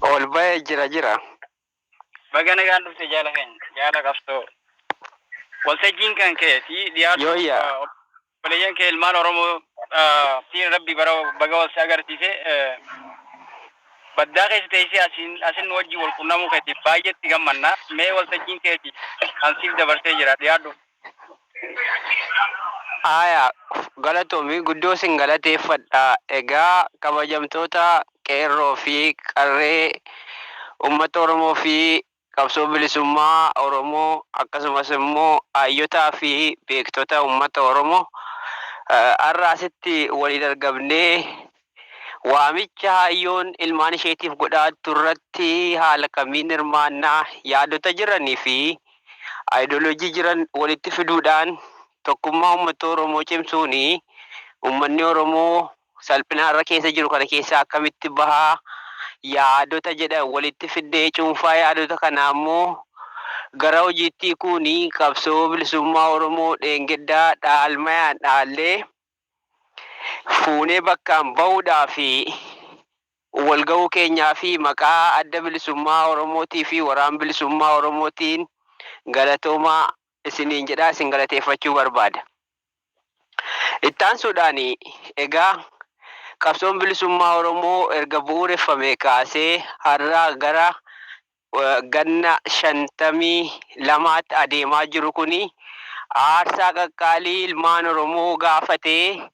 Ol bahe jira jira. Baga nagaan dhufte jaala keenya jaala qabsoo waltajjiin kan keeti dhiyaatu Yooyya. obboleeyyan kee ilmaan oromoo ah, tiin rabbi bara baga wal si agarsiise eh, baddaa keessa teessee asiin asin nu wajjin wal qunnamuu keetiif baay'eetti gammanna mee waltajjiin keeti kan siif dabarsee jira dhiyaadhu Aaya, Galatoomi guddoo sin galateeffadha. Egaa kabajamtoota Qeerroo fi Qarree Ummata Oromoo fi Qabsoo Bilisummaa Oromoo akkasumas immoo Haayyotaa fi Beektota Ummata Oromoo har'a asitti waliin argamnee Waamicha haayyoon ilmaan isheetiif godhaa jrtu irratti haala kamiin hirmaanna? Yaadota jiranii fi ideology jiran walitti fiduudhaan tokkummaa uummatta Oromoo cimsuun uummanni Oromoo salphina har'a keessa jiru kana keessaa akkamitti baha? Yaadota jedhan walitti fiddee cuunfaa yaadota kanaa immoo gara hojiitti hiikuun qabsoo bilisummaa Oromoo dheengeddaa dhaalmayaan dhaallee fuunee bakkaan bahuudhaa fi wal gahuu keenyaa fi maqaa Adda Bilisummaa Oromootii fi Waraan Bilisummaa Oromootiin galatoomaa isiniin jedhaa isin galateeffachuu barbaada. Itti aansuudhaan egaa qabsoon bilisummaa Oromoo erga bu'uureffamee kaasee har'a gara ganna 52tti adeemaa jiru kun aarsaa qaqqaalii ilmaan Oromoo gaafatee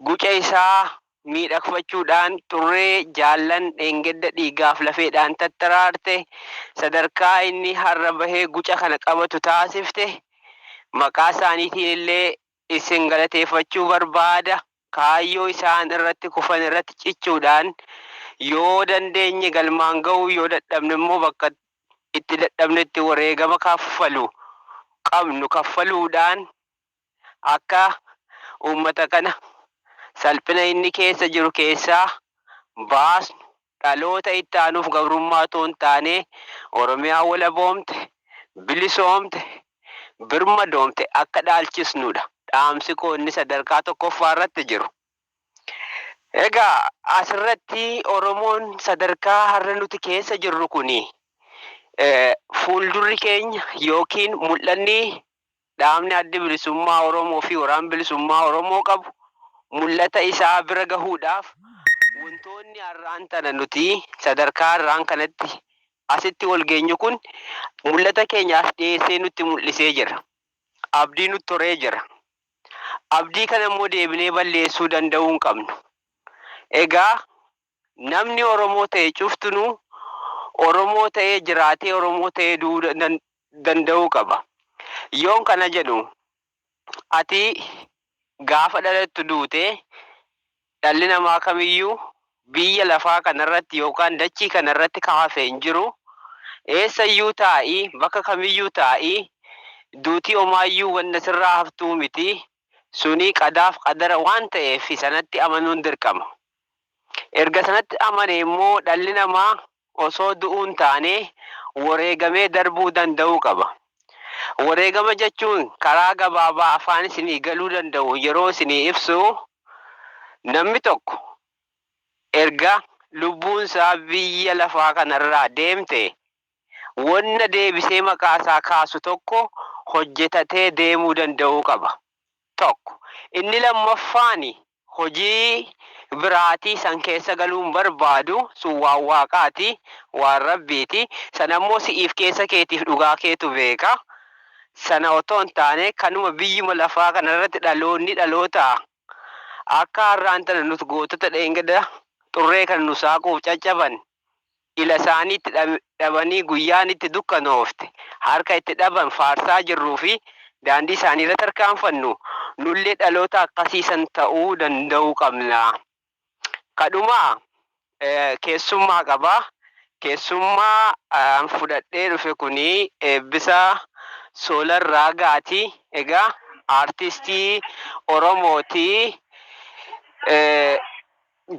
guca isaa miidhagfachuudhaan xurree jaallan dheengadda dhiigaaf lafeedhaan tattaraarte sadarkaa inni har'a bahe guca kana qabatu taasifte maqaa isaaniitiin illee Isin galateeffachuu barbaada. Kaayyoo isaan irratti kufan irratti cichuudhaan yoo dandeenye galmaan ga'uu yoo dadhabne immoo bakka itti dadhabnetti wareegama kaffalu qabnu kaffaluudhaan akka uummata kana salphina inni keessa jiru keessaa baasnu Dhaloota itti aanuuf gabrummaa utuu hin taane, Oromiyaa walaboomte, bilisoomte, birmadoomte akka dhaalchisnu dha dhaamsi koo inni sadarkaa tokkoffaa irratti jiru. Egaa as irratti Oromoon sadarkaa har'a nuti keessa jirru kuni fuuldurri keenya ykn mul'anni Dhaabni Addi Bilisummaa Oromoo fi Waraan Bilisummaa Oromoo qabu mul'ata isaa bira gahuudhaaf wantoonni har'aan tana nuti sadarkaa har'aan kanatti asitti wal geenyu kun mul'ata keenya as dhiyeessee nutti mul'isee jira. Abdii nutti horee jira. Abdii kana immoo deebinee balleessuu danda'uu hin qabnu. Egaa Namni Oromoo ta'e cuftinuu Oromoo ta'ee jiraatee Oromoo ta'ee du'uu danda'uu qaba. Yoon kana jedhu ati gaafa dhalattu duute dhalli namaa kamiyyuu biyya lafaa kanarratti yookaan dachii kanarratti ka hafe hin jiru. Eessayyuu taa'i, bakka kamiyyuu taa'i duuti omaayyuu wanna sirraa haftuu miti. Suni qadaaf qadara waan ta'eef sanatti amanuun dirqama. Erga sanatti amanee immoo dhalli namaa osoo du'uu hin taane woreegamee darbuu danda'uu qaba. Woreegama jechuun karaa gabaabaa afaan isinii galuu danda'uun yeroo isinii ibsu, namni tokko erga lubbuun isaa biyya lafaa kana irraa deemte wonna deebisee maqaa isaa kaasu tokko hojjetatee deemuu danda'uu qaba. 1, Inni lammaffaan hojii biraatii san keessa galuu hin barbaadu, sun waan Waaqaati, waan Rabbiiti, san ammoo si'iif keessa keetiif dhugaa keetu beeka, sana otoo hin taane kanuma biyyuma lafaa kana irratti dhaloonni dhalootaa akka har'aan tana nuti gootota dheengada xurree kana nu saaquuf caccaban, ila isaanii itti dhabanii guyyaan itti dukkanoofte harka itti dhaban faarsaa jirruu fi daandii isaanii irra tarkaanfannu, nullee dhaloota akkasii san ta'uu danda'uu qabna. Ka dhumaa, keessummaa qaba. Keessummaa an fudhadhee dhufe kun Eebbisaa Soolar Raagaati. Egaa Aartistii Oromooti.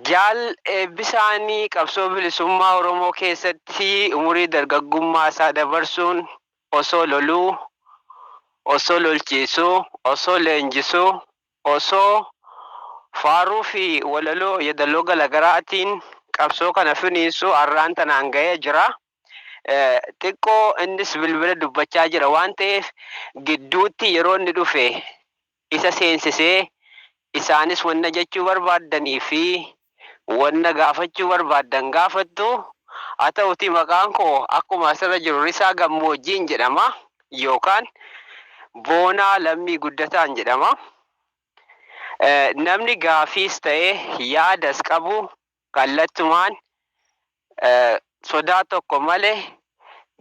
Jaal Eebbisaan qabsoo bilisummaa Oromoo keessatti umurii dargaggummaa isaa dabarsuun osoo loluu, osoo lolchiisuu, osoo leenjisuu, osoo faaruu fi walaloo yedaloo garagaraatiin qabsoo kana finiinsuu arraan tanaan gahee jira. xiqqoo innis bilbila dubbachaa jira waan ta'eef gidduutti yeroo inni dhufe isa seensisee isaanis wanna jechuu barbaaddanii fi wanna gaafachuu barbaaddan gaafattu haa ta'utii maqaan koo akkuma asirra jiru Risaa Gammoojjiin jedhama yookaan Boonaa Lammii Guddataan jedhama namni gaafiis ta'ee yaadas qabu kallattumaan sodaa tokko malee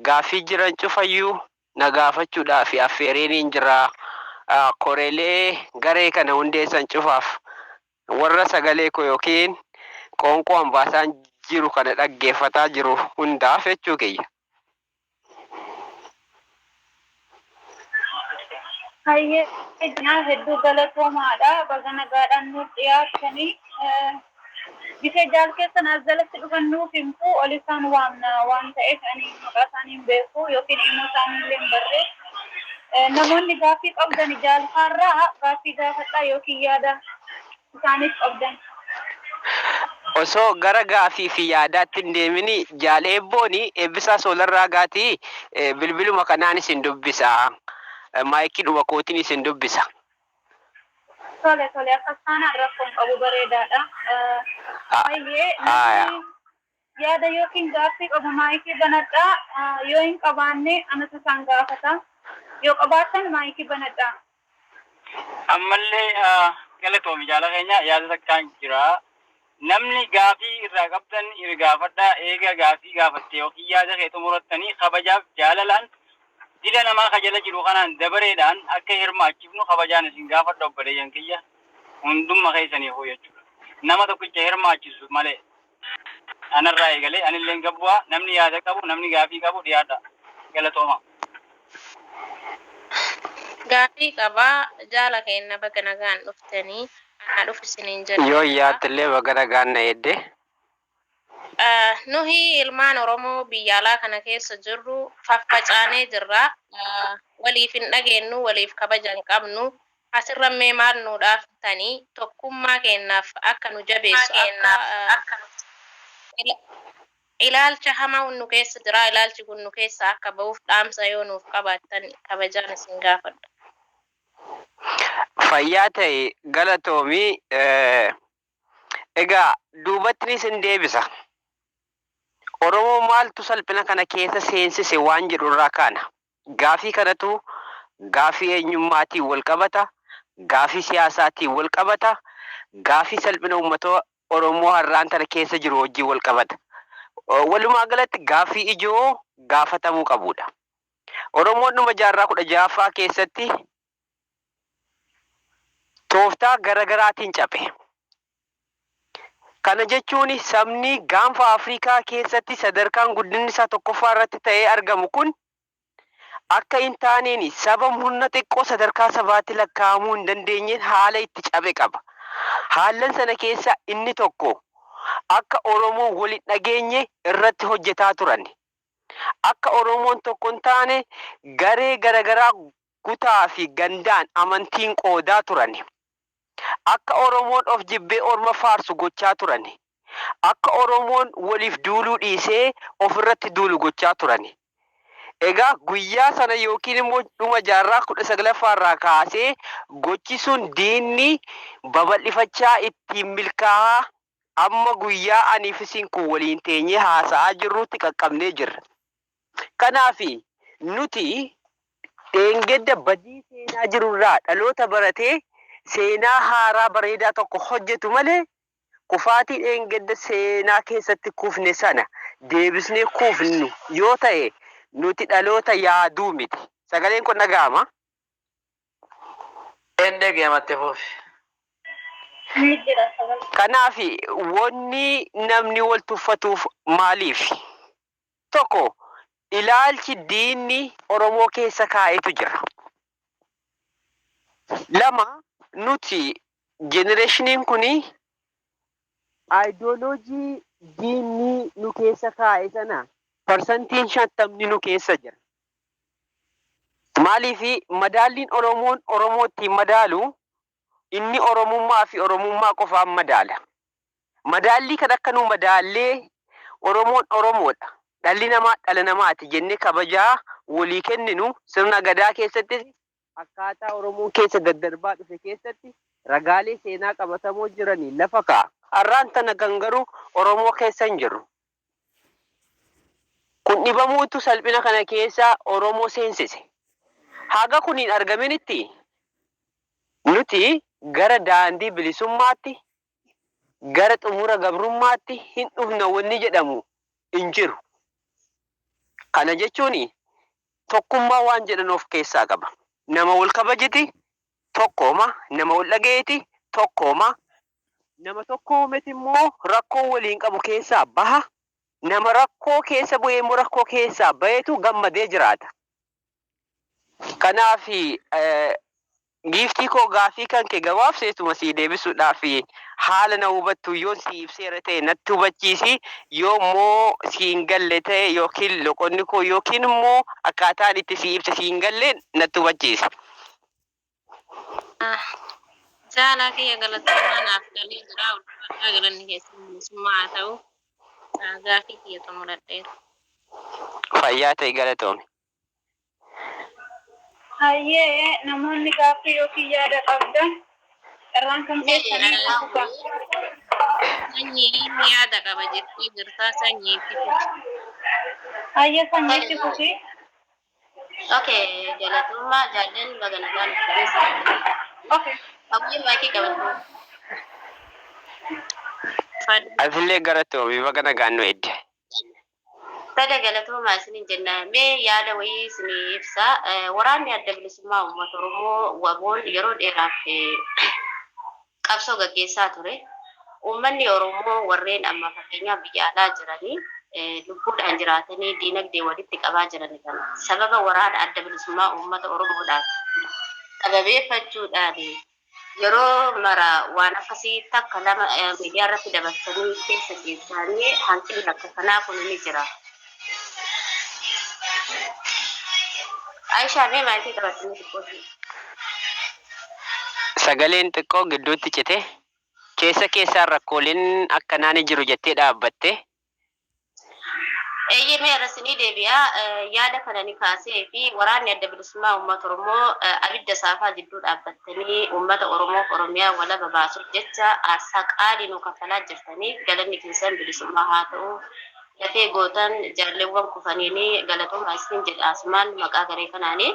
gaaffii jiran cufayyuu na gaafachuudhaaf affeereeniin jira. Koreelee garee kana hundeessan cufaaf warra sagalee koo yookiin qoonqoo an baasaan jiru kana dhaggeeffataa jiru hundaaf jechuu kiyya. Hayyee jenaa hedduu galatoomaadha baga nagaadhaan nuuf dhiyaattanii gise jaal keessan as jalatti dhufan nuuf himtu ol isaan waamna waan ta'eef ani maqaa isaanii hin beeku yookiin immoo isaanii illee hin barree namoonni gaaffii qabdan jaalfaarraa gaaffii gaafadhaa yookiin yaada isaaniif qabdan. Osoo gara gaaffii fi yaadaatti hin deemin Jaal Eebboon, Eebbisaa Soolar Raagaati, bilbiluma kanaan isin dubbisa. Maayikiidhuma kootiin isin dubbisa. Tole, tole akkas taanaan rakkoo hin qabu, bareedaadha. Hayyee, namni. Yaada ykn gaaffii qabu maayikii banadhaa, yoo hin qabaanne anatu isaan gaafata. Yoo qabaattan maayikii banadhaa. Ammallee galatoomi jaala keenya yaada takkaan jira namni gaafii irraa qabdan ir gaafadhaa eega gaafii gaafatte yookiin yaada kee xumurattanii kabajaaf jaalalaan dila namaa ka jala jiru kanaan dabareedhaan akka hirmaachifnu kabajaan isin gaafadha obboleeyyan kiyya hundumma keessaniifuu jechuudha nama tokkicha hirmaachisu malee. Anarraa eegalee anilleen gabbu'aa namni yaada qabu namni gaafii qabu dhiyaadhaa. Galatoomaa. Gaafii qaba jaala keenna baga nagaan dhuftani anaa dhufu isiniin jenna. Yoon yaaddellee baga nagaan na eedde. Nuhi ilmaan oromoo biyya alaa kana keessa jirru faffacaanee jirra. Waliif hin dhageennu waliif kabaja hin qabnu. Asirra mee maal nuu dhaaftanii tokkummaa keennaaf akka nu jabeessu akka Ilaalcha hamaa nu keessa jira ilaalchi kun nu keessaa akka ba'uuf dhaamsa yoo nuuf qabaattan kabajaan isin gaafadha. Fayyaa ta'i galatoomi egaa duubatni sin deebisa Oromoo maaltu salphina kana keessa seensise waan jedhu irraa kaana. Gaafii kanatu gaafii eenyummaatiin walqabata, gaafii siyaasaatiin walqabata, gaafii salphina uummata Oromoo har'aan tana keessa jiru wajjin walqabata. Walumaa galatti gaafii ijoo gaafatamuu qabuudha. Oromoon dhuma jaarraa 16ffaa keessatti tooftaa gara garaatiin caphe. Kana jechuun sabni gaanfa Afrikaa keessatti sadarkaan guddinni isaa tokkoffaa irratti ta'ee argamu kun akka hin taaneen saba murna xiqqoo sadarkaa sabaatti lakkaa'amuu hin dandeenyeen haala itti caphe qaba. Haallan sana keessaa inni tokko akka Oromoon wal hin dhageenye irratti hojjetaa turan. Akka Oromoon tokko hin taane garee gara garaa kutaa fi gandaan amantiin qoodaa turani. Akka Oromoon of jibbee orma faarsu gochaa turani. Akka Oromoon waliif duuluu dhiisee of irratti duulu gochaa turani. Egaa guyyaa sana ykn immoo dhuma jaarraa 19ffaa irraa kaasee gochi sun diinni babal'ifachaa ittiin milkaahaa Amma guyyaa anii fi isin kun waliin teenyee haasa'aa jirruutti qaqqabnee jirra. Kanaaf, nuti dheengadda badii seenaa jiru irraa dhaloota baratee seenaa haaraa bareedaa tokko hojjetu malee, kufaatii dheengadda seenaa keessatti kufne sana deebisnee kufnu yoo ta'e, nuti dhaloota yaadu miti. Sagaleen koo ni dhaga'amaa? Endege amatte fufi. Ni jira sababa. Kanaaf wanni namni wal tuffatuuf maaliif? Tokko ilaalchi diinni Oromoo keessa kaa'etu jira. Lama nuti jenereshiniin kun ayidooloojii diinni nu keessa kaa'e sana parsantiin shantamni nu keessa jira. Maaliif madaalliin Oromoon Oromoo ittiin madaalu inni Oromummaa fi Oromummaa qofaan madaala. Madaallii kan akka nu madaallee Oromoon Oromoodha, dhalli namaa dhala namaati jennee kabajaa wolii kenninu sirna Gadaa keessattis akkaataa Oromoon keessa daddarbaa dhufe keessatti ragaalee seenaa qabatamoo jiraniin lafa kaa'a. Har'aan tana kan garuu Oromoo keessa hin jirru. Kun dhibamuutu salphina kana keessa Oromoo seensise. Haga kun hin argaminitti nuti gara daandii bilisummaatti gara xumura gabrummaatti hin dhufna wanni jedhamu hin jiru. Kana jechuun tokkummaa waan jedhan of keessaa qaba. Nama wal kabajiti tokkooma, nama wal dhagayiti tokkooma, nama tokkoometi immoo rakkoo waliin qabu keessaa baha, nama rakkoo keessa bu'ee immoo rakkoo keessaa bayetu gammadee jiraata. Kanaafi giiftii koo gaaffii kanke gabaabseetuma sii deebisuudhaaf haala na hubattuun yoon sii ibseera ta'e natti hubachiisi, yoo immoo sii hin galle ta'e yookiin loqonni koo yookiin immoo akkaataan itti sii ibse sii hin galle natti hubachiisi. Ah Jaalaa kiyya galatoomaa naaf galee jira ulfaadhaa galanni keessan bilisummaa haa ta'u Ah gaafii kiyya xumuradheera. Fayyaa ta'i galatoomi. Hayyee namoonni gaaffii yookiin yaada qabdan carraan kan keessanii itti fufa. Sanyiin yaada qaba jettee jirtaa sanyii itti fufi. Hayyee sanyii itti fufi. Okay, galatoomaa jaallan baga nagaan dhuftan sirriitti. Okay. Hawwii maayikii qabadhu. Fad- Atillee galatoomi baga nagaan nu edde. Fada galatoomaa isinin jenna. Mee yaada wayii isinii ibsa. Eh, Waraanni adda bilisummaa uummata Oromoo waboon yeroo dheeraaf eh, qabsoo gaggeessaa ture. Uummanni Oromoo warreen amma fakkeenyaaf biyya alaa jiranii lubbuudhaan jiraatanii diinagdee walitti qabaa jirani kana sababa waraana Adda Bilisummaa Uummata Oromoodhaaf sababeeffachuudhaan yeroo mara waan akkasii takka lama miidiyaarratti dabarsanii keessa ciibsaanii hanqinni akka kanaa kuni ni jira. Aisha mee maatii qabatti mee xiqqoo ishee. Sagaleen xiqqoo gidduutti cite. Keessa keessaan rakkooleen akkanaa ni jiru jettee dhaabbatte. Eeyyee mee irra isinii deebi'a. Yaada kana ni kaasee fi waraanni adda bilisummaa uummata Oromoo abidda saafaa jidduu dhaabbattanii uummata Oromoof Oromiyaa walaba baasuuf jecha aarsaa qaalii nuu kaffalaa jirtaniif galanni keessan bilisummaa haa ta'u. Lafee gootan jaalleewwan kufaniin galatoomaa isiniin jedha asumaan maqaa garee kanaani.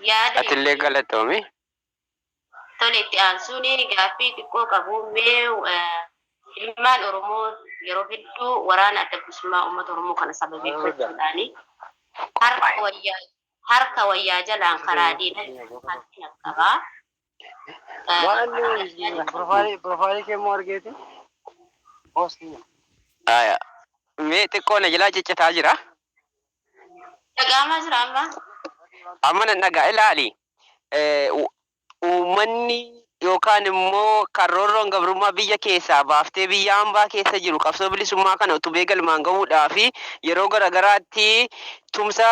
Yaada. Atillee galatoomi. Tole itti aansuun gaaffii xiqqoo qabu mee ilmaan Oromoo yeroo hedduu waraana adda bilisummaa uummata Oromoo kana sababeeffachuudhaan harka wayyaa harka wayyaa jalaan karaa diinatti harkina qaba. Waan profaayilii profaayilii kee immoo argeeti poostii. Aya. Mee xiqqoo na jalaa ciccitaa jira. Dhaga'amaa jira amma. Amma nan dhaga'a ilaali. Eh, u- Uummanni yookaan immoo kan roorroon gabrummaa biyya keessaa baaftee biyya hambaa keessa jiru qabsoo bilisummaa kana utubee galmaan ga'uudhaa fi yeroo garaagaraatti tumsa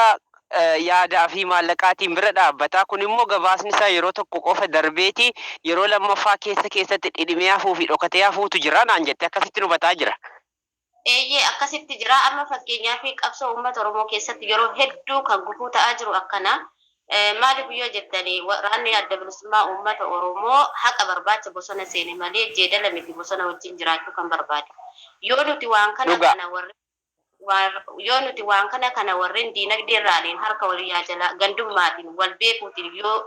yaadaa fi maallaqaatiin bira dhaabbata. Kun immoo gabaasni isaa yeroo tokko qofa darbeeti yeroo lammaffaa keessa keessatti dhidhimee hafuu fi dhokatee hafuutu jira naan jette. Akkasittin hubataa jira. Eeyyee akkasitti jira. Amma fakkeenyaaf qabsoo uummata Oromoo keessatti yeroo hedduu kan gufuu ta'aa jiru akkana. Maaliif yoo jettan waraanni adda bilisummaa uummata Oromoo haqa barbaacha bosona seene malee jeedala miti bosona wajjin jiraachuu kan barbaadu. Yoo nuti waan kana Dhugaa. kana warri Yoo nuti waan kana kana warreen diinagdeerraaniin harka wal yaa jalaa gandummaatiin wal beekuutiin yoo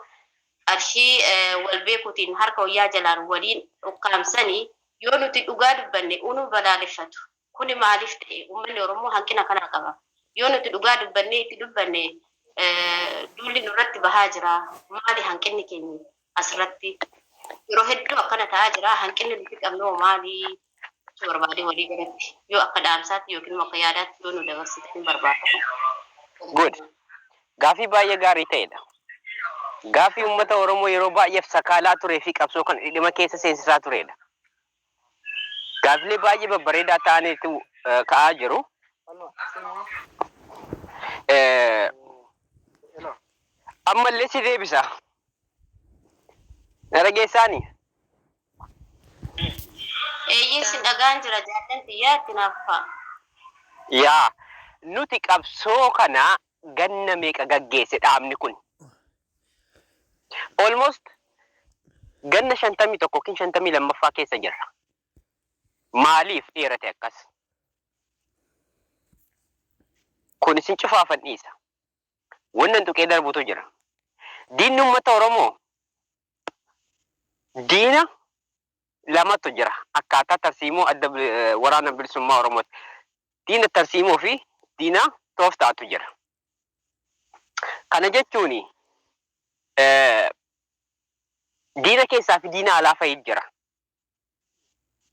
qarshii wal beekuutiin harka wal yaa jalaan waliin ukkaamsanii yoo nuti dhugaa dubbanne unu balaaleffatu. Kuni maaliif ta'e? Ummanni Oromoo hanqina kanaa qaba. Yoo nuti dhugaa dubbannee itti dubbanne duulli nurratti bahaa jira. Maali hanqinni keenya? asirratti yeroo hedduu akkana ta'aa jira. Hanqinni nuti qabnoo maali jechuu barbaadee walii galatti yoo akka dhaamsaatti yookiin immoo akka yaadaatti yoo nu dabarsitanii barbaada. Good. Gaafii baay'ee gaarii ta'edha. Gaafii uummata Oromoo yeroo baay'eef sakaalaa turee fi qabsoo kana dhidhima keessa seensisaa turedha. Gaaffilee baay'ee babbareedaa ta'anitu ka'aa jiru. Ammallee si deebisa. Na dhageessaani? Eeyyee sin dhagaan jira jaallan tiyyaa itti naaf fufaa. Yaa nuti qabsoo kana ganna meeqa gaggeesse dhaabni kun? Almost ganna 51 ykn 52ffaa keessa jirra. Maaliif dheerate akkas? Kun isin cufaafan dhiisa. Wannan tuqee darbutu jira. Diinni uummata Oromoo diina lamatu jira akkaataa tarsiimoo adda bi- eh, waraana bilisummaa Oromooti. Diina tarsiimoo fi diina tooftaatu jira. Kana jechuun eh, diina keessaa fi diina alaa fa'i jira.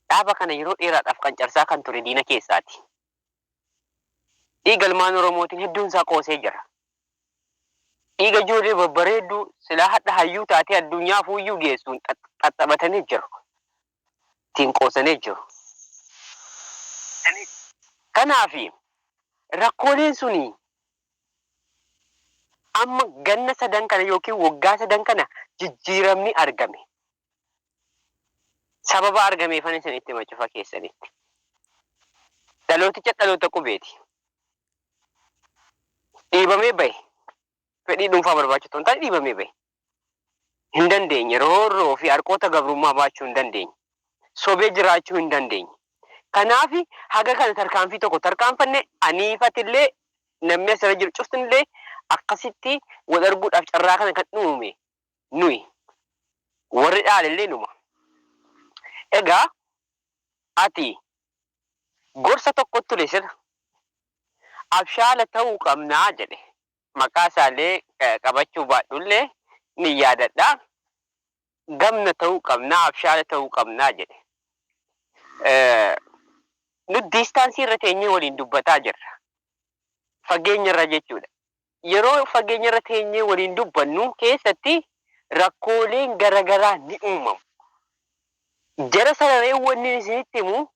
Dhaaba kana yeroo dheeraadhaaf qancarsaa kan ture diina keessaati. Dhiiga ilmaan Oromootiin hedduun isaa qoosee jira. Dhiiga ijoollee babbareedduu silaa hadha hayyuu taatee addunyaa fuuyyuu geessuun xaxxabatanii jiru. Ittiin qoosanii jiru. Kanaaf rakkooleen suni amma ganna sadan kana yookiin waggaa sadan kana jijjiiramni argame. Sababa argameefan isinitti hima cufa keessanitti. Dhalooticha dhaloota qubeeti. Dhiibamee bahe. Fedhii dhuunfaa barbaacha otoo hin taane dhiibamee bahe. Hin dandeenye. Roorroo fi harqoota gabrummaa baachuu hin dandeenye. Sobee jiraachuu hin dandeenye. Kanaaf haga kana tarkaanfii tokko tarkaanfanne aniifatillee namni asirra jiru cuftinillee akkasitti wal arguudhaaf carraa kana kan uume nuyi. Warri dhaalellee numa. Egaa ati gorsa tokkotu ture sirra. Abshaala ta'uu qabna jedhe. Maqaa isaallee qabachuu baadhullee nin yaadadha. Gamna ta'uu qabna, abshaala ta'uu qabna jedhe. Nut diistaansii irra teenyee waliin dubbataa jirra. Fageenyarra jechuudha. Yeroo fageenyarra teenyee waliin dubbannu keessatti rakkooleen garagaraa ni uumamu. Jara sanaree wannin isinitti himu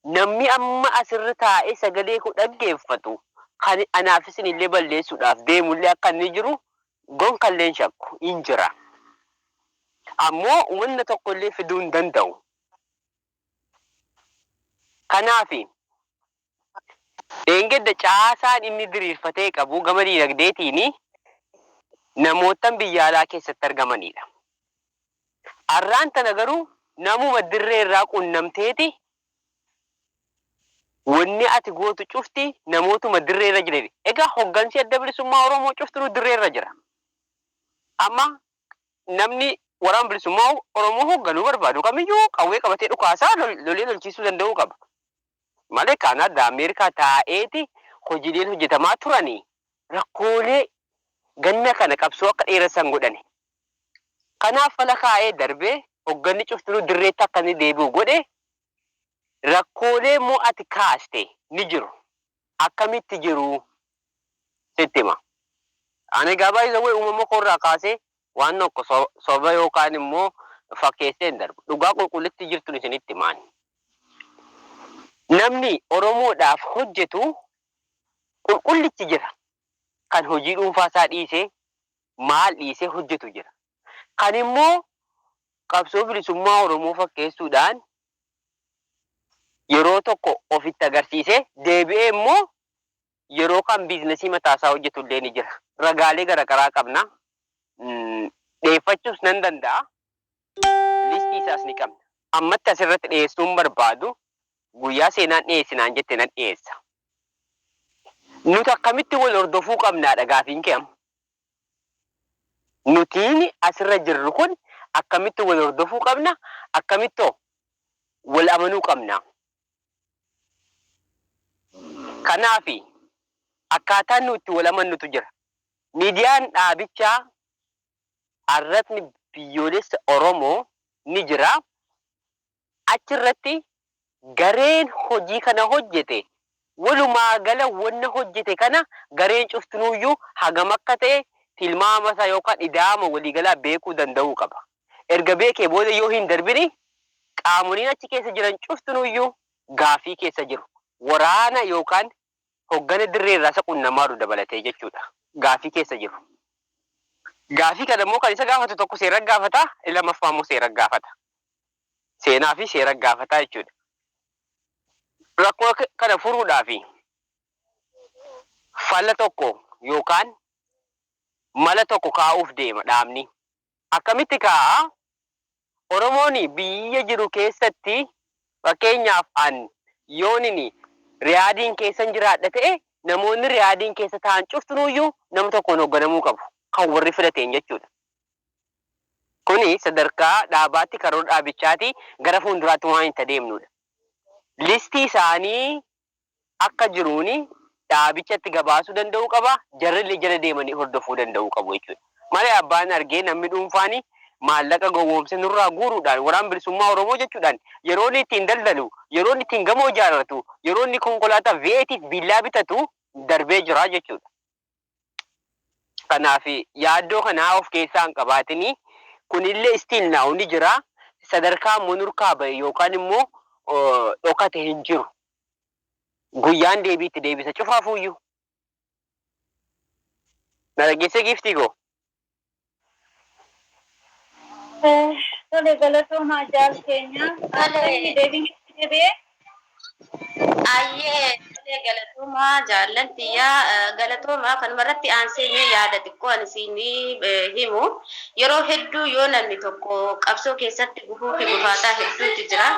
namni amma asirra taa'ee sagalee koo dhaggeeffatu kan anaaf isinillee balleessuudhaaf deemullee akka inni jiru gonkallee hin shakku, hin jira. Ammoo wanna tokkollee fiduu hin danda'u. Kanaafi Dheengadda caasaan inni diriirfatee qabu gama diinagdeetiin namoottan biyya alaa keessatti argamaniidha. Arraan tana garuu namuma dirree irraa qunnamteeti wanni ati gootu cufti namootuma dirree irra jiraniin. Egaa hoggansi Adda Bilisummaa Oromoo cuftinuu dirree irra jira. Amma namni Waraana Bilisummaa Oromoo hogganuu barbaadu kamiyyuu qawwee qabatee dhukaasaa lolee lolchiisuu danda'uu qaba. Malee Kaanaaddaa, Ameerikaa taa'eeti hojiileen hojjetamaa turani rakkoolee ganna kana qabsoo akka dheeressan godhani. Kanaaf fala kaa'ee darbee hogganni cuftinuu dirreetti akka inni deebi'u godhe. Rakkoolee immoo ati kaaste ni jiru. akkamitti jiru sitti hima. Ani egaa by the way uumama koo irraa kaasee waan tokko soba yookaan immoo fakkeessee hin darbu. Dhugaa qulqullittii jirtun isinitti hima ani. Namni Oromoodhaaf hojjetu qulqullichi jira. Kan hojii dhuunfaa isaa dhiisee maal dhiisee hojjetu jira. Kan immoo qabsoo bilisummaa Oromoo fakkeessuudhaan yeroo tokko of itti agarsiisee deebi'ee immoo yeroo kaan biiznasii mataa isaa hojjetu illee ni jira. Ragaalee garagaraa qabna. Dhiyeeffachuus nan danda'a. Listii isaas ni qabna. Ammatti asirratti dhiyeessuun barbaadu guyyaa seenaan dhiyeessi naan jette nan dhiyeessa. Nuti akkamitti wal hordofuu qabnaadha gaafiin kee amma. Nutiin asirra jirru kun akkamitti wal hordofuu qabna? Akkamitti wal amanuu qabna? Kanaaf akkaataan nu itti wal amannutu jira. Miidiyaan dhaabichaa Arratni Biyyoolessa Oromoo ni jira. Achi irratti gareen hojii kana hojjete walumaa gala wanna hojjete kana gareen cuftinuu iyyuu hagam akka ta'e tilmaama isaa yookaan ida'ama walii galaa beekuu danda'uu qaba. Erga beekee booda yoo hin darbini qaamoliin achi keessa jiran cuftinuu iyyuu gaaffii keessa jiru. Waraana yookaan hoggana dirree irraa isa qunnamaa jiru dabalatee jechuudha gaaffii keessa jiru. Gaaffii kana immoo kan isa gaafatu tokko seera gaafata, inni lammaffaa immoo seera gaafata. Seenaa fi seera gaafata jechuudha. Rakkoo kana furuudhaaf fala tokko yookaan mala tokko kaa'uuf deema dhaabni. Akkamitti kaa oromoon biyya jiru keessatti fakkeenyaaf an yoonin riyaadiin keessan jiraadha ta'e namoonni riyaadiin keessa ta'an cuftinuuyyuu nama tokkoon hogganamuu qabu kan warri filateen jechuudha kuni sadarkaa dhaabaatti karoora dhaabichaati gara fuunduraatti waan itti adeemnuudha listii isaanii akka jiruun dhaabichatti gabaasuu danda'uu qaba, jarrillee jala deemanii hordofuu danda'uu qabu jechuudha. Malee abbaan argee namni dhuunfaan maallaqa gowwoomsee nurraa guuruudhaan, Waraan Bilisummaa Oromoo jechuudhaan yeroo inni ittiin daldalu, yeroo inni ittiin gamoo ijaarratu, yeroo inni konkolaataa V8 fi viillaa bitatu darbee jira jechuudha. Kanaaf yaaddoo kana of keessaa hin qabaatin. Kunillee still now ni jira. Sadarkaa immoo nurkaa bahe yookaan immoo dhokate hin jiru. Guyyaan deebii itti deebisa cufaafuu iyyuu. Na dhaggeessee giiftii koo? Tole galatoomaa jaal keenya. Ayyee deebiin itti deebi'ee. Ayyee tole galatoomaa jaallan tiyyaa galatoomaa kanuma irratti aansee mee yaada xiqqoo ani siinii himu yeroo hedduu yoo namni tokko qabsoo keessatti gufuu fi gufaataa hedduutu jira.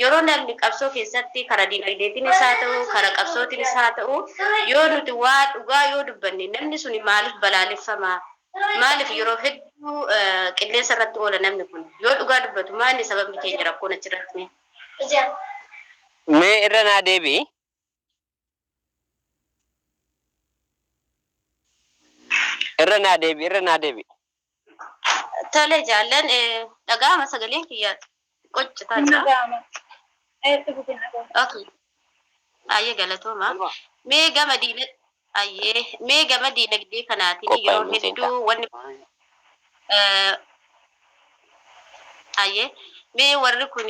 Yeroo namni qabsoo keessatti kara dinagdeetinis haa ta'u, kara qabsootinis haa ta'u, yoo nuti waa dhugaa yoo dubbanne namni suni maaliif balaaleffama? Maaliif yeroo hedduu qilleensa irratti oola namni kun? Yoo dhugaa dubbatu maa inni sababni keenya rakkoon achirratti mee? Mee irra naa deebi'i. Irra naa deebi irra naa deebi. Tole jaallan dhaga'ama sagaleen kiyyaa qoccitaa jira. Dhaga'ama. Eessa buteen dhaga'ama? Okay. Ayyee galatooma. Mee gama diina ayyee mee gama diinagdee kanaatiin yeroo hedduu wanni Hayyee mee warri kun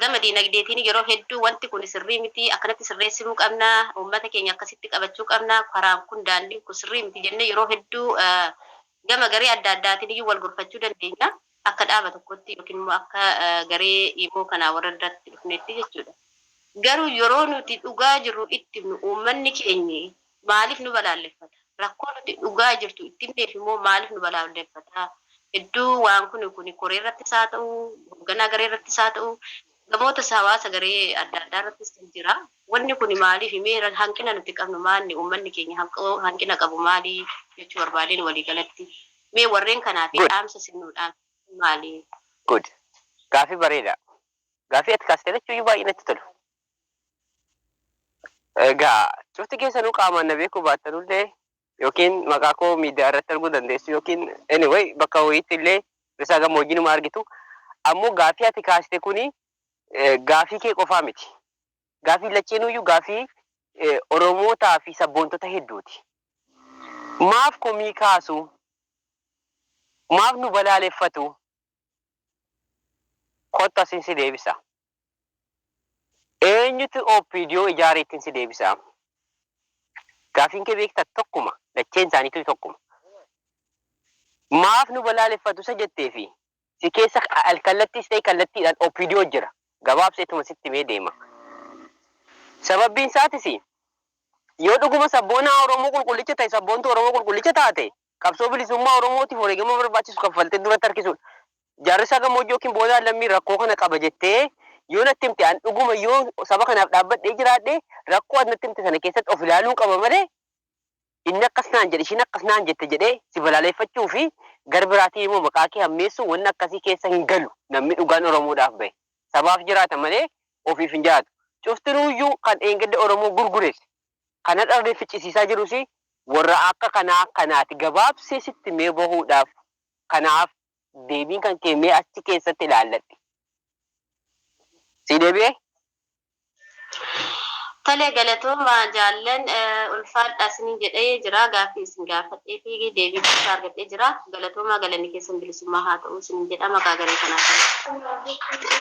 gama diinagdeetiin yeroo hedduu wanti kun sirrii miti akkanatti sirreessinuu qabna uummata keenya akkasitti qabachuu qabna karaan kun daandiin kun sirrii miti jennee yeroo hedduu gama garee adda addaatiin iyyuu wal gorfachuu dandeenya akka dhaaba tokkotti yookiin immoo akka garee imoo kanaa warra irratti dhufneetti jechuudha. Garuu yeroo nuti dhugaa jirru itti himnu uummanni keenyi Maaliif nu balaalleffata? Rakkoo nuti dhugaa jirtu itti himneef immoo maaliif nu balaalleffata? Hedduu waan kuni kuni koree irrattis haa ta'u, hogganaa garee irrattis haa ta'u, ergamoota hawaasa garee adda addaa irrattis kan jira. Wanni kuni maaliif? Mee hanqina nuti qabnu maanni? Uummanni keenya hanqina qabu maali? jechuu barbaadeen walii galatti. Mee warreen kanaaf dhaamsa isin nuu dhaamsitan maali? Good. Gaaffii bareeda. Gaaffii ati kaaste lachuuyyuu baay'ee natti tolu. Egaa cufti keessanuu qaamaan na beekuu baattanullee yookiin maqaa koo miidiyaa irratti arguu dandeessu yookiin anyway bakka wayiitti illee risaa gammoojjii numa argitu. Ammoo gaafii ati kaasite kuni gaafii kee qofaa miti. Gaafii lacheenuyyuu gaafii Oromootaa fi sabboontota hedduuti. Maaf komii kaasu? Maaf nu balaaleffatu? Kottu asin si deebisa. Eenyutu OPDO ijaare ittin si deebisa amma? Gaaffiin kee beektaa tokkuma, lacheen isaaniituu tokkuma. Maaf nu balaaleffatu isa jettee fi si keessa alkallattiis ta'e kallattiidhaan OPDO jira. Gabaabseetuma sitti himee deema. Sababbiin isaatis yoo dhuguma sabboonaa Oromoo qulqullicha ta'e, sabboontuu Oromoo qulqullicha taate Qabsoo bilisummaa Oromootiif wareegama barbaachisu kaffaltee duratti harkisuudha. Jaarressa gammoojjii ykn boodaan lammii rakkoo kana qaba jettee yoo natti himte an dhuguma yoo saba kanaaf dhaabbadhee jiraadhe rakkoo ati natti himte sana keessatti of ilaaluun qaba malee inni akkas naan jedhe ishiin akkas naan jette jedhee si balaaleffachuu fi gar biraatiin immoo maqaa kee hammeessu wanni akkasii keessa hin galu namni dhugaan Oromoodhaaf bahe sabaaf jiraata malee ofiif hin jiraatu. Cuftinuuyyuu kan dheengadda Oromoo gurgures Kan hadharree ficcisiisaa jirus warra akka kanaa kanaati. Gabaabsee sitti mee bahuudhaaf kanaaf deebiin kan kee mee achi keessatti ilaalladhe. Sii deebi'ee? Tole galatooma jaallan ulfaadhaa isiniin jedhee jira. Gaaffii isin gaafadhee fi deebii quubsaa argadhee jira. Galatoomaa galanni keessan bilisummaa haa ta'u isiniin jedha maqaa garee kanaatiin.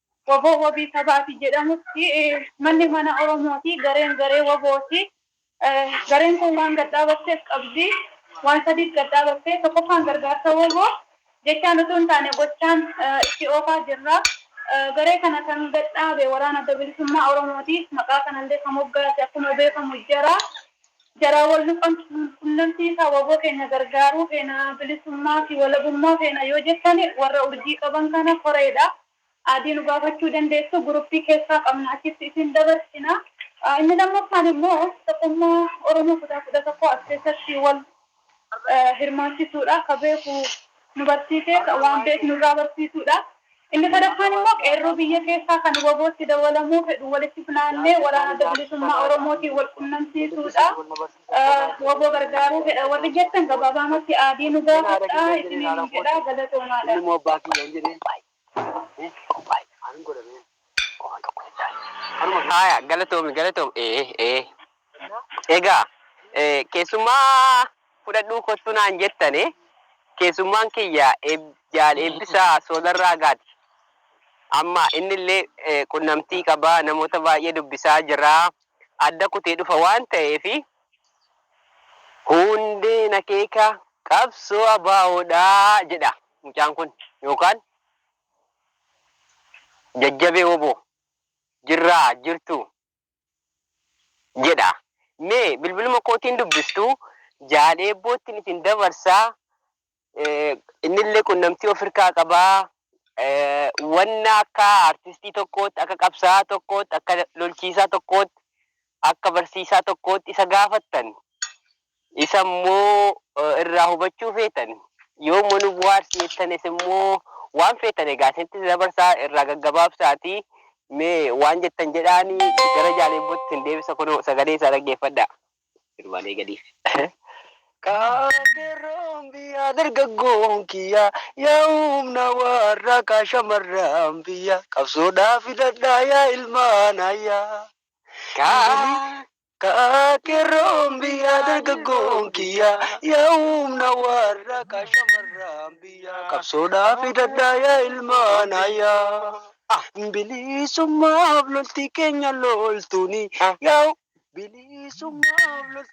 Wbo wabii sabaati jedhamutti manni mana Oromooti, gareen garee WBOti. Gareen kun waan gad dhaabatteef qabdi. Waan sadiif gad dhaabatte. Tokkoffaan gargaarsa wbo jechaan utuu hin taane gochaan itti oofaa jirra. Garee kana kan gad dhaabe Waraana Adda Bilisummaa Oromooti. Maqaa kanallee kan moggaase akkuma beekamu jara. Jaraa wal nu qanxuun qunnamtii isaa wbo keenya gargaaruu feena bilisummaa fi walabummaa feena yoo jettan warra urjii qaban kana koreedha adii nu gaafachuu dandeessu gurupii keessaa qabna achitti isin dabarsina inni lammaffaan immoo tokkummaa oromoo kutaa 11 as keessatti wal hirmaachisuudha. Akka beeku nu barsiisee waan beeknu irraa barsiisuudha. Inni sadaffaan immoo qeerroo biyya keessaa kan wabootti dawalamuu fedhu walitti funaannee waraana adda bilisummaa Oromootiin wal qunnamsiisuudha. Waboo gargaaruu fedha warri jettan gabaabaamatti aadii nu gaafadhaa isiniin jedha. Galatoomaadha. Ni qophaa'e. Ani godhamee waan tokko hin taane. Kanuma Haaya galatoomi galatoomi. Ee ee. kennaa Egaa eh, keessummaa fudhadhuu kottu naan jettane keessummaan kiyya eeb- jaal eebbisaa soolarraa gaati. Amma innillee eh, qunnamtii qaba namoota baay'ee dubbisaa jira. Adda kutee dhufa waan ta'eef hundeen akeeka qabsoo abaawoodhaa jedha. Mucaan kun yookaan jajjabee wbo jirraa jirtuu jedha mee bilbiluma kootiin dubbistu jaal eebboottin isin dabarsa innillee qunnamtii of irkaa qaba wanna akka artistii tokkootti akka qabsaa'aa tokkootti akka lolchiisaa tokkootti akka barsiisaa tokkootti isa gaafattan, isa immoo irraa hubachuu feetan, yoomuma nu buhaarsi jettanis immoo waan feetan egaa isinitti dabarsaa irraa gaggabaabsaatii mee waan jettan jedhaani gara jaaleebbootti isin deebisa kunoo sagalee isaa dhaggeeffadhaa. Sirumaan eegaliif. Kaaterroon biyyaa dargaggoon kiyyaa yaa humna warraa kaa shamarraan biyyaa qabsoodhaa fidadhaa yaa ilmaan ayyaa. Yaa kaa qeerroon biyyaa dargaggoon kiyyaa yaa humna warra kaa shamarraan biyyaa qabsoodhaaf hidhadhaa yaa ilmaan hayyaa bilisummaaf lolti keenya loltuuni yaa bilisummaaf lolti.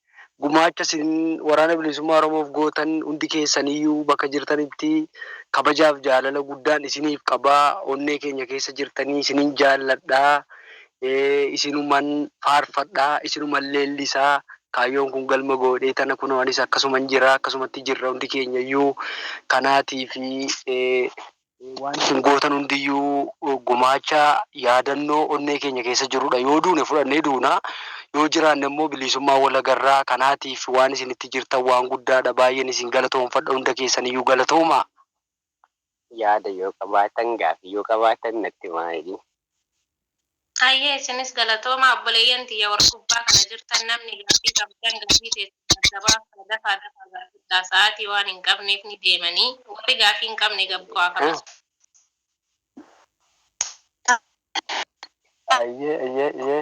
gumaacha isin Waraana Bilisummaa Oromoof gootan hundi keessaniyyuu bakka jirtanitti kabajaaf jaalala guddaan isiniif qaba. Onnee keenya keessa jirtanii isinin jaalladha. Isinuman faarfadha. Isinuman leellisa. Kaayyoon kun galma goodhee tana kunoo anis akkasuman jira. Akkasumatti jirra hundi keenyayyuu. Kanaatiif Wanti isin gootan hundiyyuu gumaacha yaadannoo onnee keenya keessa jirudha. Yoo duune fudhannee duuna, yoo jiraanne immoo biliisummaan wal agarra. Kanaatiif waan isin itti jirtan waan guddaadha. Baay'een isin galatoomfadha. Hunda keessaniyyuu galatoomaa! Yaada yoo qabaatan, gaaffii yoo qabaatan natti himaa jedhiin. Hayyee isinis galatoomaa obboleeyyan tiyya warri gubbaa kana jirtan namni gaaffii qabdan gaaffii teessan adda baaftaa dafaa dafaa gaafadhaa sa'aatii waan hin qabneef ni deemanii warri gaaffii hin qabne gad bu'aa kanas. Ayyee ayyee ayyee.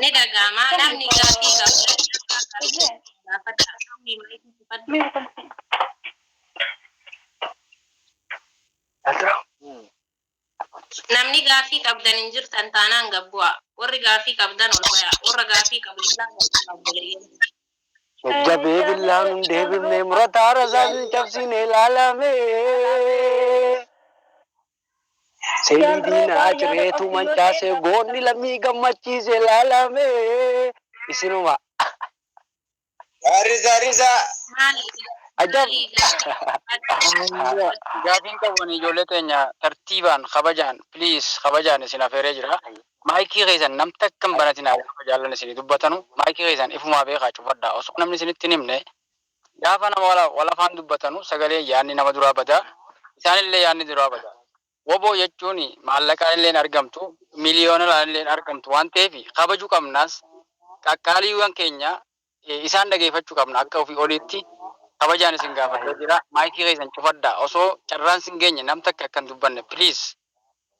Ni dhaga'ama. Namni gaaffii qabu Namni gaaffii qabdan hin jirtan taanaan gad bu'aa. Warri gaaffii qabdan ol bayaa. Warra gaaffii qabu jalaa gad bu'aa obboleeyyan. Jajjabee billaan hin deebifne murataa rasaasni cabsiin ilaalame. Seenii diinaa cireetu mancaase goonni lammii gammachiise laalame isinuma. Gaarrisaa risaa. Ajab. Gaafiin qabu ijoollee teenya tartiibaan kabajaan please kabajaan isin afeeree jira. Maayikii keessan nam takka hin banatinaa gaafa jaallan isinii dubbatanu maayikii keessan ifumaa beekaa cufadhaa osoo namni isinitti hin himne Gaafa nama wal afaan dubbatanu sagaleen yaadni nama duraa bada, isaanillee yaadni duraa bada. Wbo jechuun maallaqaanilleen argamtu, miliyoonalaanilleen argamtu waan ta'eef kabaju qabnaas qaqqaaliiwwan keenya isaan dhageefachu qabna akka ofii oliitti kabajaan isin gaafadhee jira. Maayikii keessan cufadhaa osoo carraan sin geenye nam takka akka hin dubbanne please.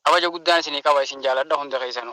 Kabaja guddaan isinii qaba isin jaaladha hunda keessanu.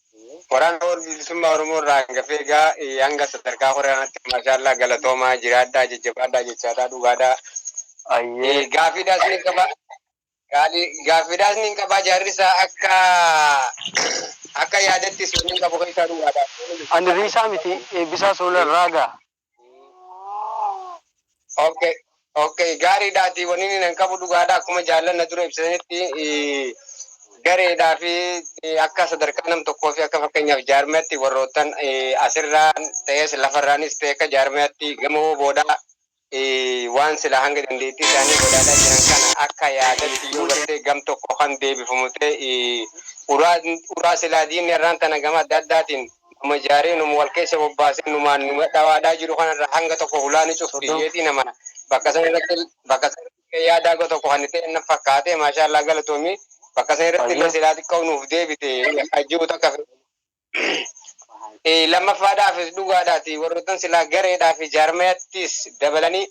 Waraana Wal Bilisummaa Oromoo irraa hangafee egaa hanga sadarkaa koree kanatti maashaallaa galatoomaa jiraadhaa jajjabaadhaa jechaadhaa dhugaadhaa. Ayyee. Gaaffiidhaas niin qaba. Gaalii gaaffiidhaas niin qaba jaarrisaa akka akka yaadatti seenaan qabu keessaa dhugaadhaa. Ani riisaa miti eebbisaa soola irraa gaa. Okay. Okay, gaariidha ati wanni inni nan qabu dhugaadha akkuma jaallanna dura ibsanitti eh, gareedhaa fi eh, akka sadarkaa nam tokkoo fi akka fakkeenyaaf jaarmiyatti warroottan eh, asirraan ta'es lafarraanis ta'e akka jaarmiyatti gama booda eh, waan sila hanga dandeettii isaanii godhaataa jiran kana akka yaadatti yoo gartee gam tokko kan deebifamu ta'e eh, uraa uraa silaa diinni irraan tana gama adda addaatiin Numa ijaaree, numa wal keessa bobbaasee, numaan numa dhawaadhaa jiru kanarraa hanga tokko hulaa ni cufti jedheetiin amana. Bakka san irratti bakka san irratti yaadaa go tokko kan ta'e na fakkaate maashaa Allah galatoomi. Bakka san irratti illee silaa xiqqoo nuuf deebite hajjuu takka lammaffaadhaafis dhugaadhaati warroottan silaa gareedhaa fi jaarmayattis dabalanii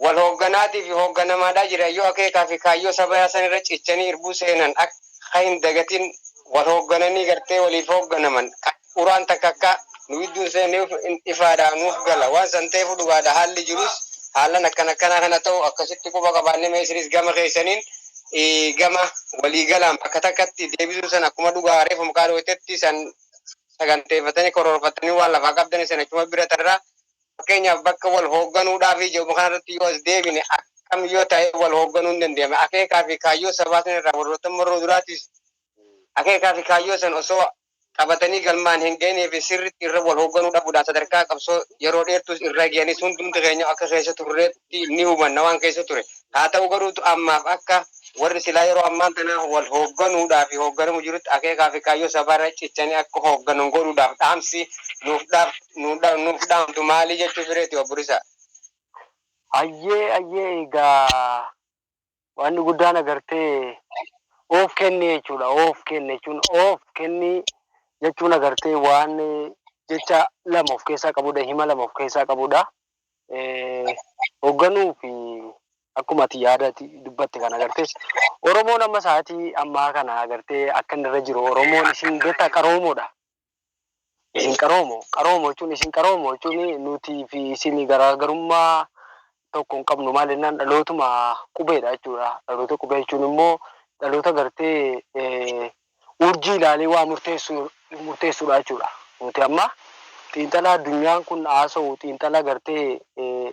wal hoogganaati fi hoogganamaadhaa jiran yoo akeekaa fi kaayyoo sabayaa san irra cichanii irbuu seenan akka hin dagatin wal hooggananii gartee waliif hoogganaman uraan takka akka nu gidduun seenne ifaadha nuuf gala waan san ta'eefu dhugaadha haalli jirus haalan akkan akkanaa kana ta'u akkasitti quba qabaanne mee isinis gama keessaniin gama walii galaan bakka takkatti deebisuu san akkuma dhugaa reefu maqaa dhootetti san saganteeffatanii koroorfatanii waan lafaa qabdanii san achuma bira tarraa Fakkeenyaaf bakka wal hoogganuudhaafii jedhamu kanarratti yoo as deebine akkam yoo ta'e wal hoogganuu hin dandeenye. Akeekaa fi kaayyoo sabaa sana irraa warroota marroo duraatiis akeekaa fi kaayyoo sana osoo qabatanii galmaan hin ga'inii fi sirriitti irra wal hoogganuu dhabuudhaan sadarkaa qabsoo yeroo dheertuus irra ga'anis hundumti keenya akka keessa turreetti ni hubanna waan keessa ture. Haa ta'u garuu ammaaf akka warri silaa yeroo ammaan tanaa wal hoogganuudhaa fi hoogganamu jirutti akeekaa fi kaayyoo sabaa irra cichanii akka hoogganan godhuudhaaf dhaamsi nuuf dhaamtu maali jechuufi reeti Obbo Risaa? Ayyee ayyee egaa Wanni guddaan agartee of kenni jechuudha. Of kenni jechuun of kenni jechuun agartee waan jecha lama of keessaa qabudha. Hima lama of keessaa qabudha. Hoogganuu fi akkuma ati yaada dubbatte kana agartee Oromoon amma sa'aatii ammaa kana agartee akka inni irra jiru Oromoon isin beektaa qaroomoodha. Isin qaroo moo? Qaroo moo jechuun isin qaroo moo jechuun nuti fi isin garaagarummaa tokko hin qabnu maal jennaan dhalootuma qubeedha jechuudha. Dhaloota qubee jechuun immoo dhaloota gartee urjii ilaalee waa murteessuudha jechuudha. Nuti amma xiinxala addunyaan kun haasa'u xiinxala gartee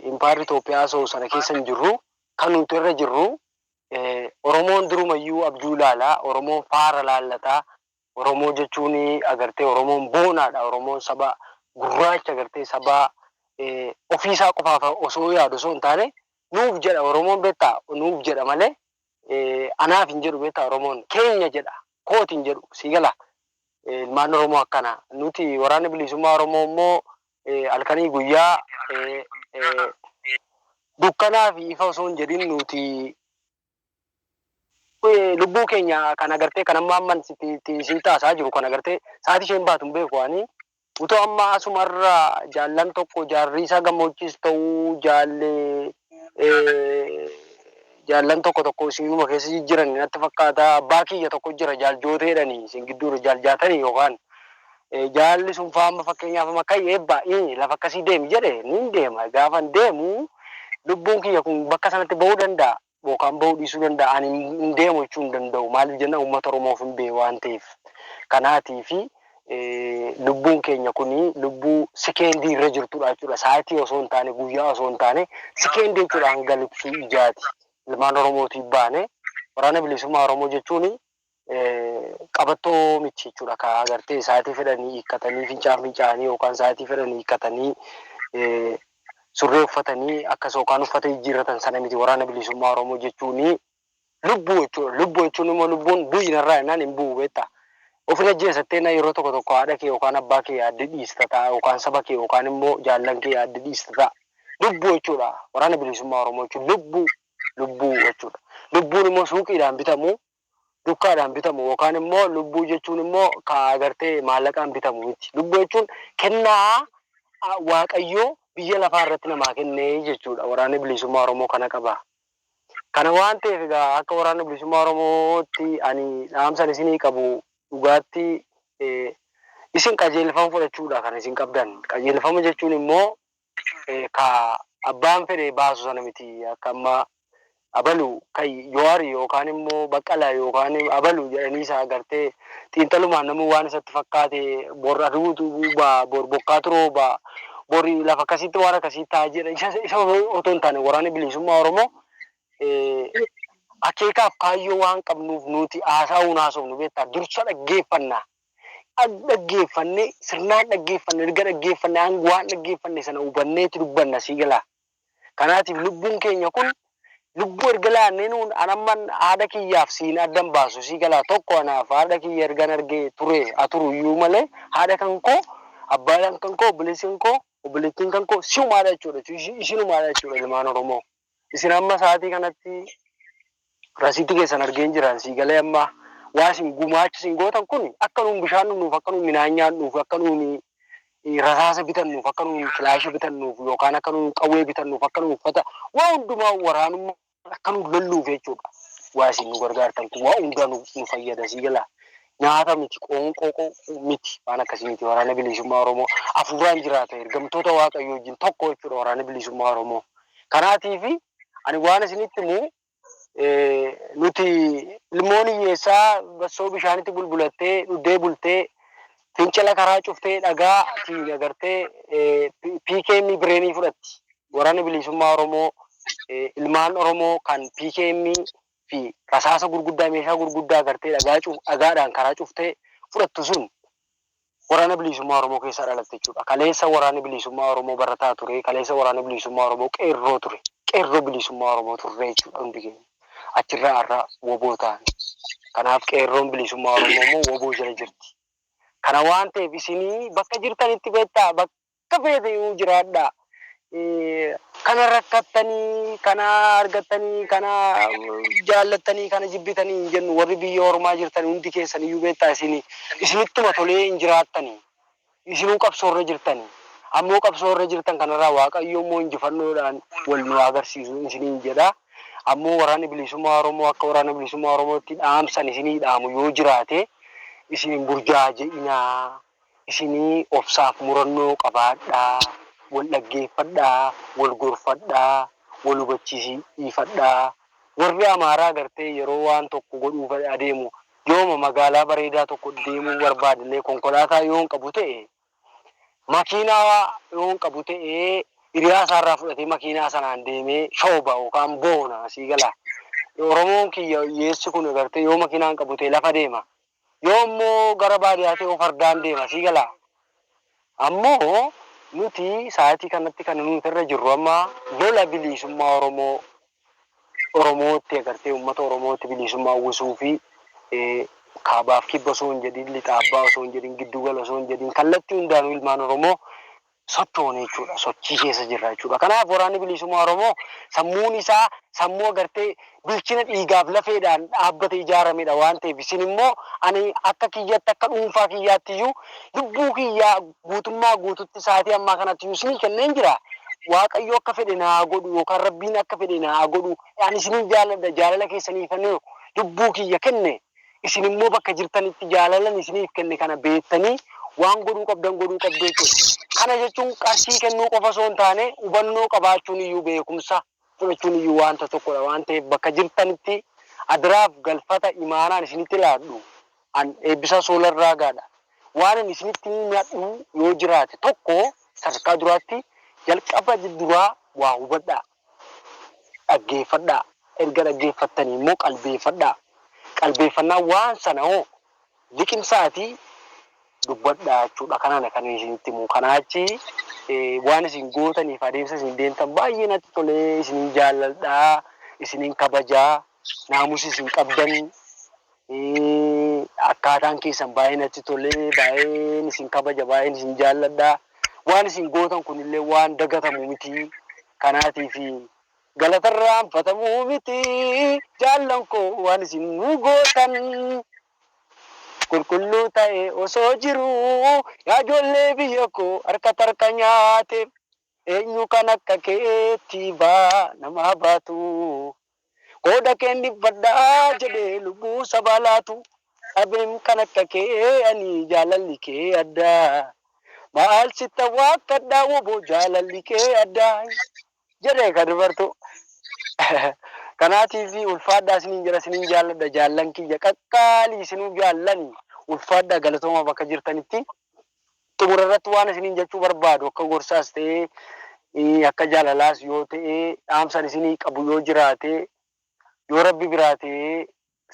impaayerri Itoophiyaa haasa'u sana keessa hin jirru. Kan nuti irra jirru Oromoon durumayyuu abjuu ilaala, Oromoon faara laallata, Oromoo jechuun agartee Oromoon boonaadha. Oromoon saba gurraacha agartee saba ofiisaa qofaaf osoo yaadu osoo hin taane nuuf jedha Oromoon beektaa nuuf jedha malee anaaf hin jedhu beektaa Oromoon keenya jedha kooti hin jedhu sii gala ilmaan Oromoo akkana nuti waraanni bilisummaa Oromoo immoo halkanii guyyaa dukkanaa fi ifa osoo hin jedhin nuti Eh, lubbuu keenya kan agartee kan amma amman sitti itti sii taasaa jiru kan agartee sa'aatii isheen baatu hin beeku ani utuu amma asumarra jaallan tokko jaarrii isaa gammoojjis ta'uu jaallee eh, jaallan tokko tokko isinuma keessa jijjiran natti fakkaata abbaa kiyya tokko jira jaal jooteedhani isin gidduudha jaal jaatanii yookaan Jaalalli sun faa amma fakkeenyaaf amma ka'i eebbaa i lafa akkasii deemi jedhe nin deema. Gaafan deemu lubbuun kiyya kun bakka sanatti ba'uu danda'a yookaan ba'uu dhiisuu danda'a. Ani hin deemu jechuu hin danda'u. Maaliif jennaan uummata Oromoof hin ba'e waan ta'eef. Kanaatiif lubbuun keenya kun lubbuu sikeendii irra jirtudha jechuudha. Saayitii osoo hin taane guyyaa osoo hin taane sikeendii jechuudha hanga likkii ijaati. Ilmaan Oromootiif baane waraana bilisummaa Oromoo jechuun qabattoo miti jechuudha. Ka agartee sa'aatii fedhanii hiikkatanii fincaan fincaanii yookaan sa'aatii fedhanii hiikkatanii surree uffatanii akkas yookaan uffata jijjiirratan sana miti waraana bilisummaa Oromoo jechuun lubbuu jechuudha. Lubbuu jechuun immoo lubbuun bu'i narraa jennaan hin bu'u beektaa. Ofin ajjeesattee na yeroo tokko tokko haadha kee yookaan abbaa kee yaaddi dhiista ta'a yookaan saba kee yookaan immoo jaallan kee yaaddi dhiista ta'a. Lubbuu jechuudha. Waraana bilisummaa Oromoo jechuun lubbuu lubbuu jechuudha. Lubbuun immoo suuqiidhaan bitamu dukkaadhaan bitamu yookaan immoo lubbuu jechuun immoo ka agartee maallaqaan bitamu miti. Lubbuu jechuun kennaa a, Waaqayyoo biyya lafaa irratti namaa kenne jechuudha. Waraanni Bilisummaa Oromoo kana qaba. Kana waan ta'eef egaa akka Waraana Bilisummaa Oromootti ani dhaamsan isinii qabu dhugaatti eh, isin qajeelfama fudhachuudha kan isin qabdan. Qajeelfama jechuun immoo ka abbaan fedhe baasu sana miti akka amma abalu ka Jowaar yookaan immoo Baqqalaa yookaan abalu jedhanii isa agartee xiinxalumaan namuu waan isatti fakkaate bor aduutu ba'a bor bokkaatu rooba bor lafa akkasiitti waan akkasii ta'a jedha isa isa otoo hin taane waraanni bilisummaa Oromoo eh, akeekaaf kaayyoo waan qabnuuf nuti haasaa'uun haasofnu beektaa dursa dhaggeeffannaa Dhag dhaggeeffanne sirnaan dhaggeeffanne erga dhaggeeffanne hang waan dhaggeeffanne sana hubanneeti dubbanna sii galaa kanaatiif lubbuun keenya kun lubbuu erga laannee nuun an amman haadha kiyyaaf siin addan baasu sii galaa tokko anaaf haadha kiyya ergan arge ture haa turu iyyuu malee haadha kan koo abbaan kan koo obboleessi kan koo obboleettiin kan koo siumaadha jechuudha ishinumaadha jechuudha ilmaan oromoo Isin amma sa'aatii kanatti rasiitii keessan argeen jiraan sii galee amma waa isin gumaacha isin gootan kun akka nuun bishaan dhugnuuf akka nuun midhaan nyaannuuf akka nuun rasaasa bitannuuf akka nuun kilaasha bitannuuf yookaan akka nuun qawwee bitannuuf akka nuun uffata waa hundumaa waraanummaa akka nuun lolluuf jechuudha. Waa isin nu gargaartan kun waa hundaa nu nu fayyada sii galaa. Nyaata miti qoonqoo qo- miti waan akkasii miti waraana bilisummaa Oromoo afuuraan jiraata ergamtoota waaqayyoo wajjin tokko jechuudha waraana bilisummaa Oromoo Kanaatiif ani waan isinitti himu, nuti ilmoon hiyyeessaa bassoo bishaanitti bulbulattee dhuddee bultee, fincila karaa cuftee dhagaa tiin agartee PKM bireenii fudhatti. Waraanni Biliisummaa Oromoo ilmaan Oromoo kan PKM fi rasaasa gurguddaa meeshaa gurguddaa agartee dhagaa dhagaadhaan karaa cuftee fudhattu sun Waraana Biliisummaa Oromoo keessaa dhalatte jechuudha. Kaleessa Waraanni Biliisummaa Oromoo barataa ture, kaleessa Waraanni Biliisummaa Oromoo Qeerroo ture. Qeerroo Biliisummaa Oromoo turre jechuudha hundi keenya. Achirraa har'a wbo taane. Kanaaf Qeerroon Biliisummaa Oromoo immoo wbo jala jirti. Kana waan ta'eef isin bakka jirtanitti beektaa, bakka Akka feeteyyuu jiraadhaa. Kana rakkattanii, kana argattanii, kana jaallattanii, kana jibbitanii hin jennu. Warri biyya ormaa jirtan hundi keessaniyyuu beektaa isin isinittuma tolee hin jiraattani. Isinuu qabsoorra jirtani. Ammoo qabsoo irra jirtan kanarraa Waaqayyo immoo injifannoodhaan wal nu haa garsiisu isiniin jedha. Ammoo Waraanni Bilisummaa Oromoo akka Waraana Bilisummaa Oromootti dhaamsan isinii dhaamu yoo jiraate isin hin burjaaje'inaa. Isinii obsaaf murannoo qabaadhaa, wal dhaggeeffadhaa, wal gorfadhaa, wal hubachiisiifadhaa. Warri Amaaraa gartee yeroo waan tokko godhuuf adeemu yooma magaalaa bareedaa tokko deemuu barbaadnee konkolaataa yoon qabu ta'e, makiinaa yoon qabu ta'e hiriyaa isaarraa fudhatee makiinaa sanaan deemee shooba yookaan boona. Sii galaa? Oromoon kiyya hiyyeessi kun gartee yoo makiinaan qabu ta'e lafa deema. Yoo ammoo gara baadiyaa ta'e hoo fardaan deema. Sii galaa? Ammoo nuti sa'aatii kanatti kan nuti irra jirru amma lola biliisummaa Oromoo Oromootti agartee uummata Oromootti biliisummaa uwwisuu fi kaabaaf kibba osoo hin jedhin lixaaf baha osoo hin jedhin gidduu gala osoo hin jedhin kallattii hundaanuu ilmaan Oromoo sochoone jechuudha. Sochii keessa jirra jechuudha. Kanaaf Waraanni Biliisummaa Oromoo sammuun isaa sammuu agartee bilchina dhiigaaf lafeedhaan dhaabbate ijaaramedha waan ta'eef isin immoo ani akka kiyyatti akka dhuunfaa kiyyaatti iyyuu lubbuu kiyyaa guutummaa guututti sa'aatii ammaa kanatti iyyuu isinii kenneen jira. Waaqayyo akka fedhe na haa godhu yookaan Rabbiin akka fedhe na haa godhu ani isinin jaaladha jaalala keessaniifan lubbuu kiyya kenne. Isin immoo bakka jirtanitti jaalalan isiniif kenne kana beektanii waan godhuu qabdan godhuu qabdu jechuudha. Kana jechuun qarshii kennuu qofa osoo hin taane hubannoo qabaachuun iyyuu beekumsa fudhachuun iyyuu waanta tokkodha waan ta'eef bakka jirtanitti adaraaf galfata imaanaan isinitti laadhu an Eebbisaa Soolar Raagaadha. Waanan isinitti himadhu yoo jiraate tokko sadarkaa duraatti jalqaba duraa waa hubadhaa. Dhaggeeffadhaa, erga dhaggeeffattanii immoo qalbeeffadhaa, qalbeeffannaan waan sana hoo liqimsaatii dubbadhaa jechuudha. Kanana kan isinitti himu. Kanaa achi waan isin gootaniif adeemsa isin deemtan baay'ee natti tolee isinin jaalladhaa, isinin kabajaa. naamusis hin qabdan akkaataan keessan baay'ee natti tolee baay'een isin kabaja baay'een isin jaalladha waan isin gootan kunillee waan dagatamu miti kanaatiif galatarraan fatamuu miti jaallan koo waan isin nu gootan qulqulluu ta'e osoo jiru yaa ijoollee biyya koo harka tarka nyaate Eenyu kan akka keetii baa namaa baatu Qooda keen dhibbadha jedhee lubbuu sabaa laatu Dhabeem kan akka kee ani jaalalli kee adda Maal sitta waakkadha woboo jaalalli kee adda Jedhe ka dubartuu Kanaatiif ulfaadhaa isiniin jedha isiniin jaalladha jaallan kiyya qaqqaalii isinuu jaallani ulfaadhaa galatooma bakka jirtanitti Xumura irratti waan isiniin jechuu barbaadu akka gorsaas ta'ee akka jaalalaas yoo ta'e dhaamsan isinii qabu yoo jiraate yoo rabbi biraa ta'e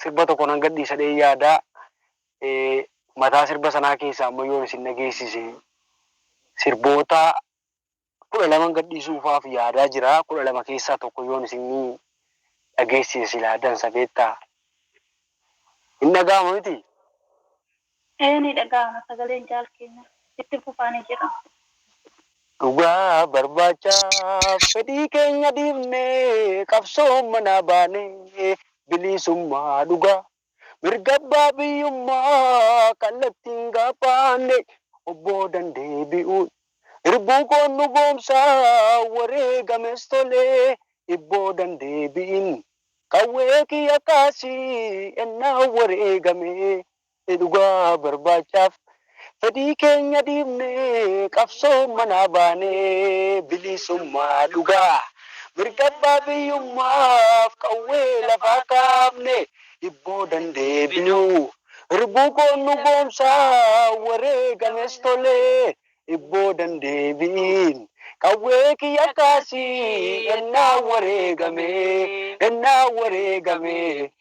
sirba tokko nan gadhiisa dhee yaada mataa sirba sanaa keessaa amma yoon isin dhageessise sirboota kudha laman gadhiisuufaaf yaadaa jira. Kudha lama keessaa tokko yoon isinii dhageessise silaa dansa beektaa. Hin dhaga'ama miti? Ee ni dhaga'ama sagaleen Jaal keenyaa. Itti fufaa ni jedha. Dhugaa barbaachaaf fedhii keenya dhiifnee qabsoon manaa baanee bilisummaa dhugaa Mirga abbaa biyyummaa kallattiin gaafaanne of boodan deebi'uun irbuu koon dhugoomsa wareegames tole if boodan deebi'in qawwee kiyya kaasi ennaa wareegame dhugaa barbaachaaf Fedhii keenya dhiifnee qabsoo manaa baanee bilisummaa dhugaa mirga abbaa biyyummaaf qawwee lafaa kaafne hibboo dandeebinu irbuu koo nu goomsaa wareegames tolee hibboo dandeebiin qawwee kiyya kaasii ennaa wareegamee ennaa wareegamee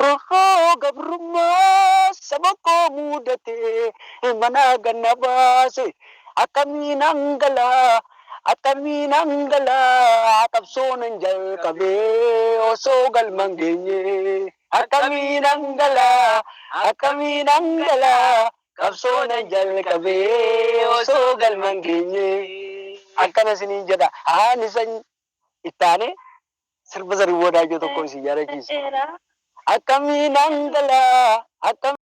Roorroo gabrummaa saba koo muudate manaa gad na baase akkamiinan gala akkamiinan gala qabsoo nan jalqabe osoo galman geenye akkamiinan gala akkamiinan gala qabsoo nan jalqabe osoo galman geenye akkana isiniin jedha ani sanyi ittaane Sirba Zarihuun Wadaajoo tokko isin yaadachiisa. Akkamiin angalaa akkamiin.